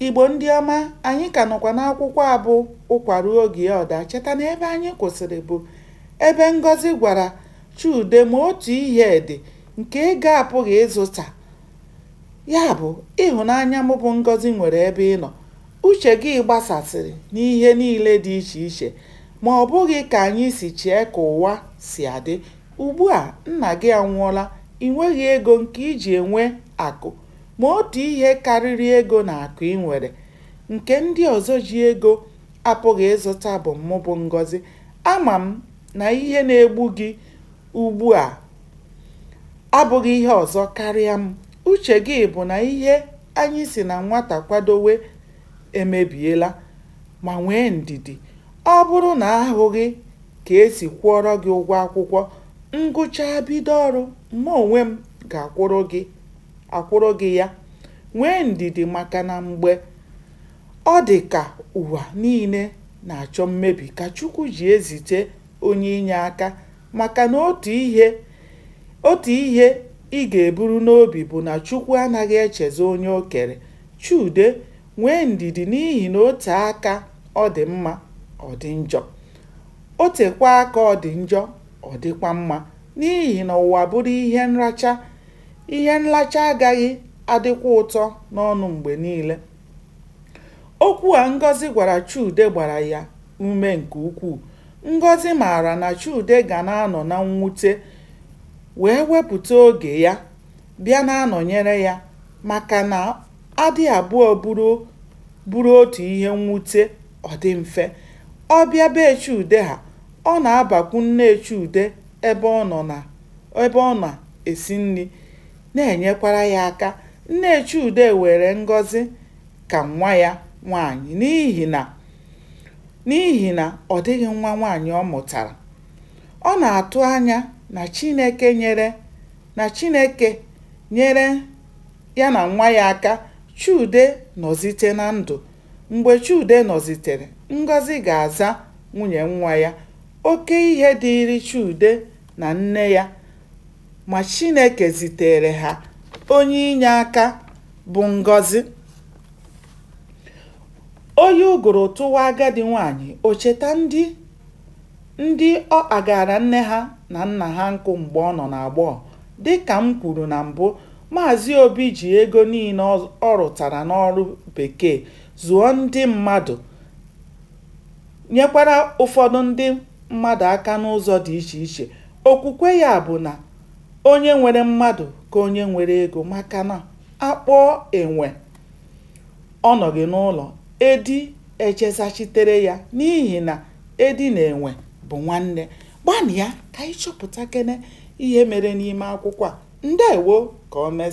Igbo ndị ọma, anyị ka nọkwa n'akwụkwọ a bụ Ụkwa ruo oge ya ọ daa. Cheta na ebe anyị kwụsịrị bụ ebe Ngọzi gwara Chude ma otu ihe dị nke ego apụghị ịzụta. Ya bụ, ịhụnanya mụ bụ Ngọzi nwere ebe ị nọ, uche gị gbasasịrị n'ihe niile dị iche iche ma ọ bụghị ka anyị si chee ka ụwa si adị. Ugbu a nna gị anwụọla, i nweghị ego nke i ji enwe akụ Ma otu ihe karịrị ego na akụ i nwere, nke ndị ọzọ ji ego apụghị ịzụta bụ mụ bụ Ngọzi. Ama m na ihe na-egbu gị ugbu a abụghị ihe ọzọ karịa m. Uche gị bụ na ihe anyị si na nwata kwadowe emebiela. Ma nwee ndidi. Ọ bụrụ na a hụghị ka e si kwụọrọ gị ụgwọ akwụkwọ, ngụchaa bido ọrụ, mụ onwe m ga-akwụrụ gị. akwụrụ gị ya. Nwee ndidi maka na mgbe ọ dị ka ụwa niile na-achọ mmebi ka Chukwu ji ezite onye inye aka maka na otu ihe ị ga-eburu n'obi bụ na Chukwu anaghị echezọ onye o kere. Chude, nwee ndidi n'ihi na o tee aka ọ dị mma, ọ dị njọ. O tekwaa aka ọ dị njọ, ọ dịkwa mma. N'ihi na ụwa bụrụ ihe nracha, Ihe nracha agaghị adịkwa ụtọ n'ọnụ mgbe niile. Okwu a Ngọzi gwara Chude gbara ya ume nke ukwuu. Ngọzi maara na Chude ga na-anọ na mwute wee wepụta oge ya bịa na-anọnyere ya maka na a dị abụọ buru otu ihe mwute ọ dị mfe. Ọ bịa be Chude ha, ọ na-abakwu nne Chude ebe ọ nọ na ebe ọ na-esi nri na-enyekwara ya aka. Nne Chude were Ngọzi ka nwa ya nwaanyị n'ihi na n'ihi na ọ dịghị nwa nwaanyị ọ mụtara. Ọ na-atụ anya na Chineke nyere na Chineke nyere ya na nwa ya aka Chude nọzite na ndụ. Mgbe Chude nọzitere, Ngọzi ga-aza nwunye nwa ya Oke ihe dịịrị Chude na nne ya ma Chineke ziteere ha onye inye aka bụ Ngọzi. Oyi ụgụrụ tụwa agadi nwaanyị, o cheta ndị ndị ọ kpagaara nne ha na nna ha nkụ mgbe ọ nọ n'agbọghọ. Dị ka m kwuru na mbụ, Maazị Obi ji ego niile ọ rụtara n'ọrụ bekee zụọ ndị mmadụ nyekwara ụfọdụ ndị mmadụ aka n'ụzọ dị iche iche. Okwukwe ya bụ na onye nwere mmadụ ka onye nwere ego maka na a kpọọ enwe ọ nọghị n'ụlọ, edi ejee zachitere ya n'ihi na edi na enwe bụ nwanne. Gbanịa ka anyị chọpụtakene ihe mere n'ime akwụkwọ a. Ndewo! Ka o mesịa.